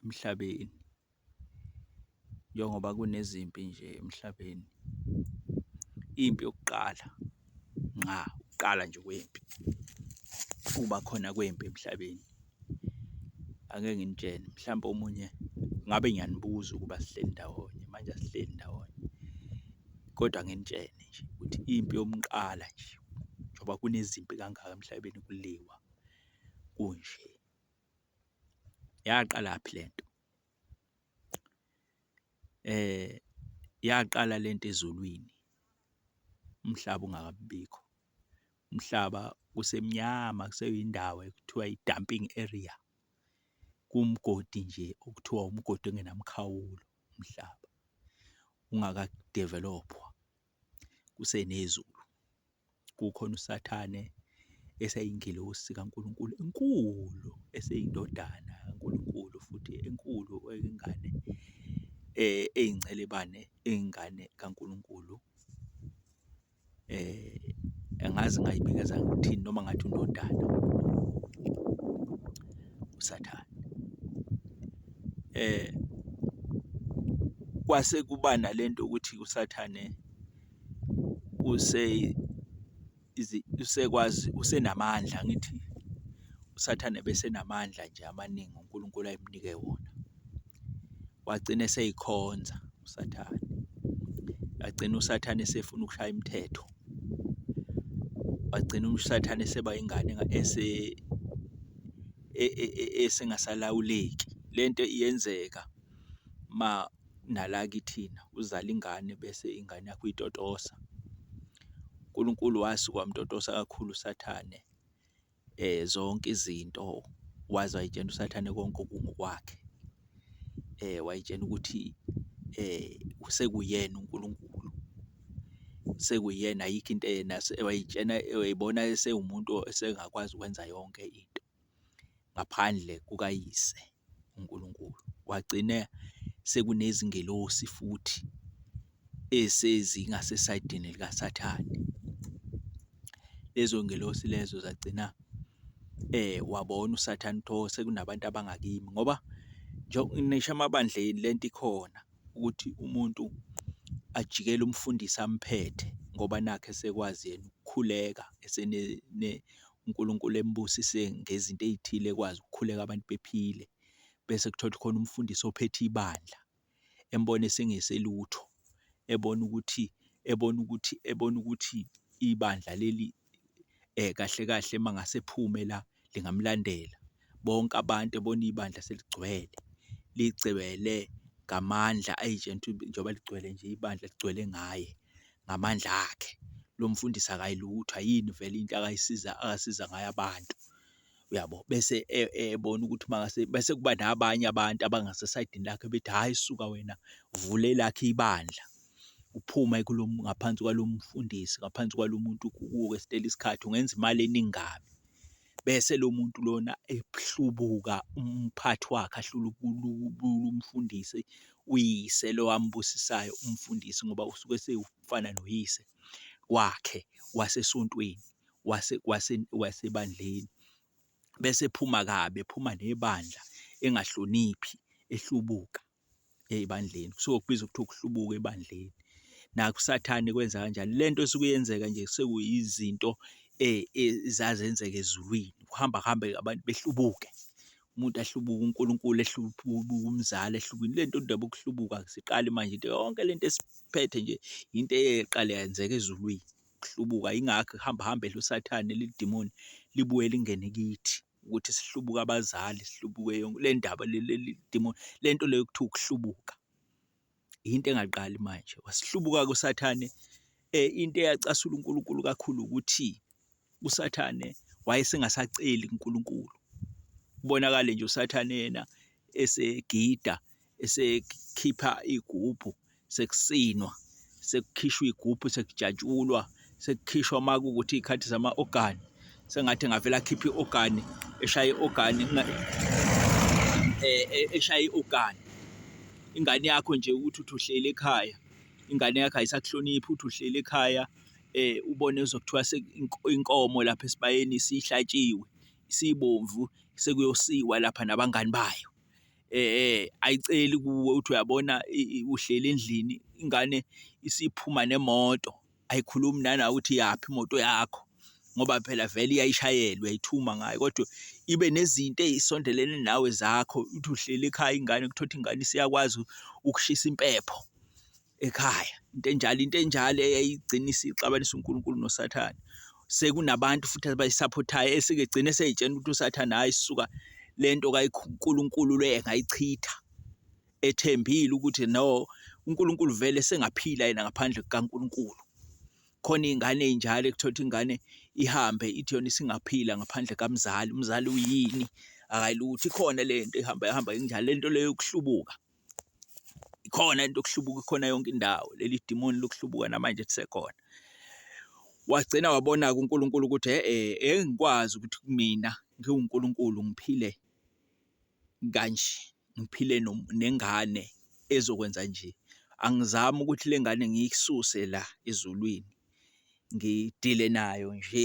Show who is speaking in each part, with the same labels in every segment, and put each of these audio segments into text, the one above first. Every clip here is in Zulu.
Speaker 1: emhlabeni njengoba kunezimpi nje emhlabeni. Impi yokuqala ngqa ukuqala nje kwempi ukuba khona kwempi emhlabeni. Ake nginitshele mhlawumbe omunye ngabe ngiyanibuza ukuba sihleli ndawonye manje asihleli ndawonye kodwa nginitshele nje ukuthi impi yomuqala nje njengoba kunezimpi kangaka emhlabeni kuliwa kunje. Yaqalaphi le nto? Yaqala le nto ezulwini umhlaba ungakabi bikho, umhlaba kusemnyama kuseyindawo ekuthiwa i-dumping area, kuwumgodi nje okuthiwa umgodi ongenamkhawulo umhlaba ungaka develophwa. kusenezulu, kukhona uSathane eseyingelosi kaNkulunkulu enkulu, eseyindodana kaNkulunkulu futhi enkulu eyingane eyincelebane, eyingane kaNkulunkulu. Angazi ngingayibikeza ngithini noma ngathi undodana uSathane. kwase kuba nale nto yokuthi usathane usekwazi usenamandla, angithi usathane ebesenamandla nje amaningi uNkulunkulu ayemnike wona. Wagcina eseyikhonza usathane, wagcina usathane esefuna ukushaya imithetho, wagcina usathane eseba ingane . esingasalawuleki. Le nto iyenzeka uma nala kithina uzale ingane bese ingane yakho uyitotosa. UNkulunkulu wasuke wamtotosa kakhulu uSathane zonke izinto waze wayitshena uSathane konke okungokwakhe. wayitshena ukuthi sekuyena uNkulunkulu, sekuyena ayikho into yena wayitshena wayibona esewumuntu esengakwazi ukwenza yonke into ngaphandle kukaYise uNkulunkulu. Kwagcine sekunezingelosi futhi esezi ngasesayidini likaSathane. Lezo ngelosi lezo zagcina eh wabona uSathane ukuthi sekunabantu abangakimi ngoba ngisho emabandleni le nto ikhona ukuthi umuntu ajikele umfundisi amphethe ngoba nakhu esekwazi yena ukukhuleka uNkulunkulu embusise ngezinto ey'thile ekwazi ukukhuleka abantu bephile. Bese kuthiwa khona umfundisi ophethe ibandla. embone esengeselutho, ebona ukuthi, ebona ukuthi, ebona ukuthi ibandla leli kahle kahle uma ngase ephume la lingamlandela. Bonke abantu ebona ibandla seligcwele, ligcwele ngamandla ayi njengoba ligcwele nje ibandla ligcwele ngaye ngamandla akhe. Lo mfundisi akayi lutho, ayini vele into akayisiza, asiza ngayo abantu. uyabo? Bese ebona ukuthi mangase bese kuba nabanye abantu abangasesayidini lakhe bethi, hhayi suka wena vula elakho ibandla, uphuma kulo ngaphansi kwalo mfundisi, ngaphansi kwalo muntu ukuwesitela isikhathi ungenza imali eningi kabi. Bese lo muntu lona ehlubuka umphathi wakhe ahlulubula umfundisi, uyise lo ambusisayo umfundisi ngoba usuke esewufana noyise wakhe wasesontweni. wasebandleni bese ephuma kabi, ephuma nebandla engahloniphi ehlubuka ebandleni. Kusuke kubizwa kuthiwa ukuhlubuka ebandleni. Nakho uSathane kwenza kanjalo. Le nto esuke yenzeka nje sekuyizinto ezazenzeka ezulwini, ukuhamba kuhambe abantu behlubuke. Umuntu ahlubuke, uNkulunkulu ehlubuke, umzali ehlubukile. Le nto indaba yokuhlubuka asiqali manje into yonke le nto esiphethe nje into eyayiqale yenzeka ezulwini. ukuhlubuka yingakho ihamba hamba edla usathane lidimoni libuye lingene kithi ukuthi sihlubuke abazali sihlubuke yonke le ndaba leli demon le nto leyo kuthiwa ukuhlubuka into engaqali manje wasihlubuka kusathane eh into eyacasula uNkulunkulu kakhulu ukuthi usathane wayesengasaceli uNkulunkulu kubonakale nje usathane yena esegida esekhipha igubhu sekusinwa sekukhishwa igubhu sekujatshulwa sekukhishwa uma kuwukuthi iy'khathi zama-ogani sengathi ngavele akhiphe i-ogani eshaye i-ogani eh, eh, eshaye i-ogani ingane yakho nje ukuthi uthi uhleli ekhaya ingane yakho ayisakuhloniphi uthi uhleli ekhaya eh ubone uzokuthiwa inkomo lapha esibayeni sihlatshiwe sibomvu sekuyosiwa lapha nabangani bayo ayiceli kuwe uthi uyabona uhleli endlini ingane isiphuma nemoto, ayikhulumi nala ukuthi iyaphi imoto yakho ngoba phela vele iyayishayela uyayithuma ngayo. Kodwa ibe nezinto ey'sondelene nawe zakho, uthi uhleli ekhaya ingane kuthiwa ukuthi ingane isiyakwazi ukushisa impepho. ekhaya. Into enjalo, into enjalo eyayigcina isixabanisa uNkulunkulu noSathane. Sekunabantu futhi abayisaphothayo esike gcine seyitshena ukuthi uSathane hhayi suka le nto kaNkulunkulu le engayichitha ethembile ukuthi no uNkulunkulu vele sengaphila yena ngaphandle kukaNkulunkulu. Khona iy'ngane ey'njalo ekuthola ukuthi ingane ihambe ithi yona isingaphila ngaphandle kamzali, umzali uyini, akayilutho. Ikhona le nto ihamba ihamba injalo, le nto le yokuhlubuka. Ikhona into yokuhlubuka ikhona yonke indawo. Leli dimoni lokuhlubuka namanje lisekhona. Wagcina wabona-ke uNkulunkulu ukuthi e-e engikwazi ukuthi kumina ngiwuNkulunkulu ngiphile kanje, ngiphile nengane ezokwenza nje. Angizami ukuthi le ngane ngiyisuse la ezulwini, ngidile nayo nje.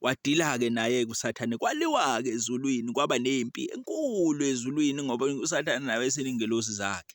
Speaker 1: Kwadila-ke naye-ke uSathane, kwaliwa-ke ezulwini, kwaba nempi enkulu ezulwini ngoba uSathane naye wayeseney'ngelosi zakhe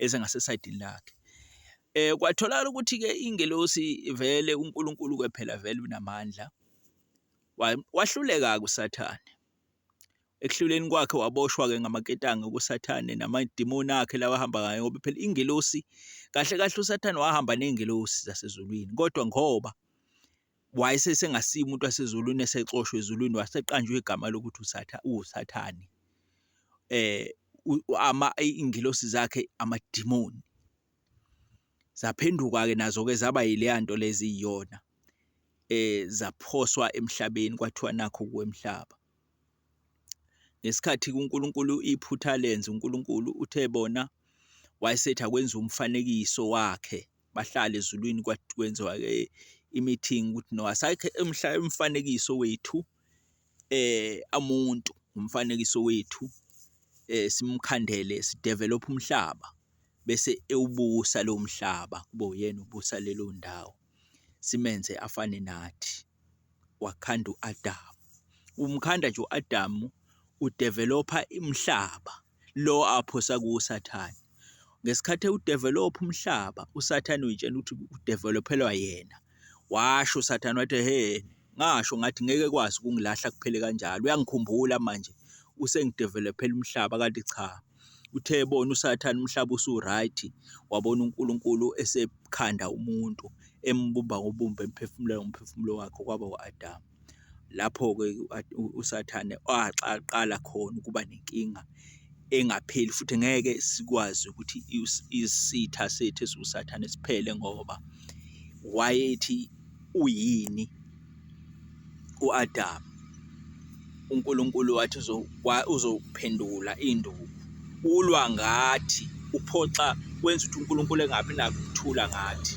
Speaker 1: ezingasesayidini lakhe. Um kwatholakala ukuthi-ke iy'ngelosi vele uNkulunkulu-ke phela vele unamandla, wahluleka-ke uSathane. Ekuhluleni kwakhe waboshwa-ke ngamaketanga kuSathane namadimoni akhe lawa ahamba ngayo ngoba phela ingelosi, kahle kahle uSathane wahamba ney'ngelosi zasezulwini kodwa ngoba wayesesengasiye umuntu wasezulwini esexoshwa ezulwini waseqanjwe igama lokuthi usathane iy'ngilosi zakhe amadimoni. Zaphenduka-ke nazo-ke zaba yileya nto le eziyiyona zaphoswa emhlabeni kwathiwa nakhu-ke umhlaba. ngesikhathi kuNkulunkulu iphutha lenze uNkulunkulu uthe bona wayesethi akwenza umfanekiso wakhe bahlale ezulwini kwenziwa ke i-meeting ukuthi no asakhe emhla umfanekiso wethu eh amuntu umfanekiso wethu eh simkhandele sidevelop umhlaba bese ewubusa lo mhlaba kube uyena ubusa leyo ndawo. simenze afane nathi, wakhanda u-Adamu. Umkhanda nje u-Adamu udevelopha umhlaba lo aphosa kuwo uSathane. Ngesikhathi ewudevelopha umhlaba, uSathane uyitshela ukuthi udevelophelwa yena. Washo uSathane wathi, hhe, ngasho ngathi ngeke kwazi ukungilahla kuphele kanjalo, uyangikhumbula manje usengidevelophela umhlaba kanti cha. Uthe ebona uSathane umhlaba usu-right, wabona uNkulunkulu esekhanda umuntu, embumba ngobumba, emphefumulela ngomphefumulo wakhe okwaba u-Adamu. Lapho-ke uSathane aqala khona ukuba nenkinga engapheli futhi ngeke sikwazi ukuthi isitha sethu esiwuSathane siphele ngoba wayethi uyini. uAdamu uNkulunkulu wathi uzophendula induku ulwa ngathi uphoxa wenza ukuthi uNkulunkulu engabi nakuthula ngathi